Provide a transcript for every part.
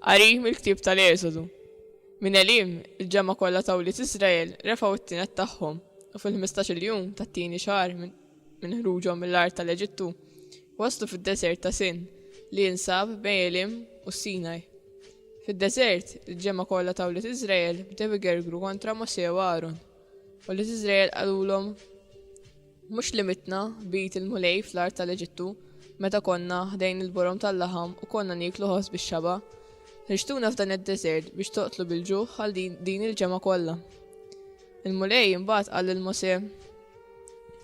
Qari mill-ktieb tal-Eżodu. Minn Elim, il-ġemma kollha ta' wlied Iżrael refgħu t-tienet tagħhom u fil-ħmistax-il jum tat-tieni xahar minn ħruġhom mill-art tal-Eġittu waslu fid-deżert ta' Sin li jinsab bejn Elim u Sinaj. Fid-deżert, il-ġemma kollha ta' wlied Iżrael bdew igergru kontra Mosè u Aaron. U li Iżrael qalulhom Mhux li mitna b'id il-Mulej fl-art tal-Eġittu, meta konna ħdejn il-borom tal-laħam u konna nieklu ħoss bix-xaba'? Ħriġtuna f'dan id-deżert biex toqtlu bil-ġuħ għal din il-ġemgħa kollha. Il-Mulej imbagħad qal lil Mosè,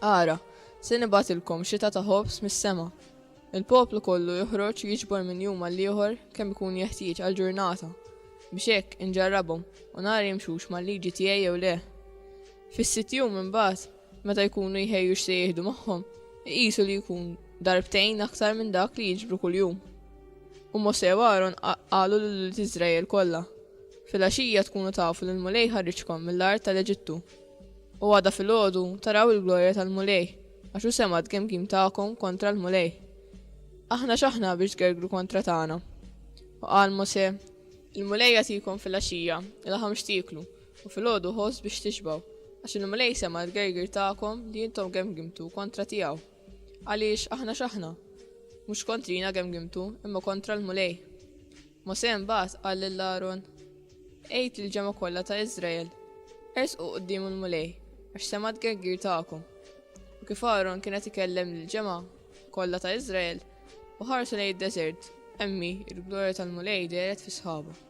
Ara, se nibgħatilkom xita ta' ħobż mis-sema. Il-poplu kollu joħroġ jiġbor minn jum għal ieħor kemm ikun jeħtieġ għal ġurnata biex hekk inġarrabhom u nara jimxux mal-liġi tiegħi jew le. Fis-sitt jum imbagħad Meta jkunu jħejju x'se jieħdu magħhom, iqisu li jkun darbtejn aktar minn dak li jiġbru kuljum. U Mose u Aaron qalu lil Iżrael kollha, fil-għaxija tkunu tafu li l-Mulej ħarriġkom mill-art tal-Eġittu. U għada fil-ħodu taraw il-glorja tal-Mulej, għax u semad kemm kim tagħkom kontra l-Mulej. Aħna x'aħna biex tgergru kontra tagħna. U qal Mose, il-Mulej jagħtikom fil-għaxija, il-ħam x'tieklu, U filgħodu ħoss biex tixbgħu, għax il-Mulej sema' l-gergir tagħkom li intom gemgimtu kontra tiegħu. Għaliex aħna x'aħna? Mhux kontrina gemgimtu, imma kontra l-Mulej. Mosè mbagħad qal lil Aron, Għid lil ġemgħa kollha ta' Iżrael, ersqu quddiem il-Mulej, għax sema' l-gergir tagħkom. U kif Aron kien qed ikellem lil ġemgħa kollha ta' Iżrael, u ħarsu lejn id-deżert, emmi il-glorja tal-Mulej deret fis-sħaba.